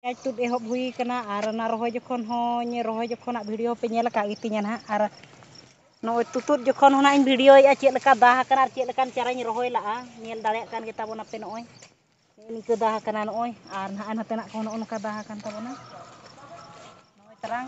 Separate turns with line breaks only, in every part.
ᱯᱮᱸᱭᱟᱡᱽ ᱛᱩᱫ ᱮᱦᱚᱵ ᱦᱩᱭ ᱟᱠᱟᱱᱟ ᱟᱨ ᱚᱱᱟ ᱨᱚᱦᱚᱭ ᱡᱚᱠᱷᱚᱱ ᱦᱚᱸᱧ ᱨᱚᱦᱚᱭ ᱡᱚᱠᱷᱚᱱᱟᱜ ᱵᱷᱤᱰᱤᱭᱳ ᱯᱮ ᱧᱮᱞ ᱟᱠᱟᱫ ᱜᱮᱛᱤᱧᱟ ᱱᱟᱦᱟᱜ ᱟᱨ ᱱᱚᱜᱼᱚᱭ ᱛᱩᱛᱩᱫ ᱡᱚᱠᱷᱚᱱ ᱦᱚᱸ ᱱᱟᱦᱟᱜ ᱤᱧ ᱵᱷᱤᱰᱤᱭᱳᱭᱮᱫᱼᱟ ᱪᱮᱫ ᱞᱮᱠᱟ ᱫᱟᱜ ᱟᱠᱟᱱᱟ ᱟᱨ ᱪᱮᱫ ᱞᱮᱠᱟᱱ ᱪᱟᱨᱟᱧ ᱨᱚᱦᱚᱭ ᱞᱟᱜᱼᱟ ᱧᱮᱞ ᱫᱟᱲᱮᱭᱟᱜ ᱠᱟᱱ ᱜᱮᱛᱟᱵᱚᱱᱟ ᱯᱮ ᱱᱚᱜᱼᱚᱭ ᱱᱤᱝᱠᱟᱹ ᱫᱟᱜ ᱟᱠᱟᱱᱟ ᱱᱚᱜᱼᱚᱭ ᱟᱨ ᱱᱟᱦᱟᱜ ᱱᱚᱛᱮᱱᱟᱜ ᱠᱚ ᱱᱚᱜᱼᱚ ᱱᱚᱝᱠᱟ ᱫᱟᱜ ᱟᱠᱟᱱ ᱛᱟᱵᱚᱱᱟ ᱱᱚᱜᱼᱚᱭ ᱛᱟᱨᱟᱝ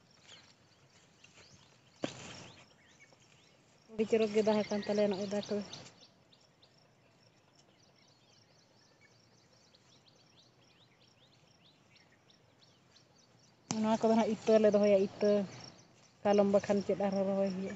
ᱟᱹᱰᱤ ᱪᱚᱨᱚᱠ ᱜᱮ ᱫᱟᱜ ᱟᱠᱟᱱ ᱛᱟᱞᱮᱭᱟ ᱱᱚᱜᱼᱚᱭ ᱫᱟᱜ ᱠᱚᱫᱚ ᱱᱚᱣᱟ ᱠᱚᱫᱚ ᱦᱟᱸᱜ ᱤᱛᱟᱹ ᱞᱮ ᱫᱚᱦᱚᱭᱟ ᱤᱛᱟᱹ ᱠᱟᱞᱚᱢ ᱵᱟᱠᱷᱟᱱ ᱪᱮᱫ ᱟᱨᱦᱚᱸ ᱨᱚᱦᱚᱭ ᱦᱩᱭᱩᱜᱼᱟ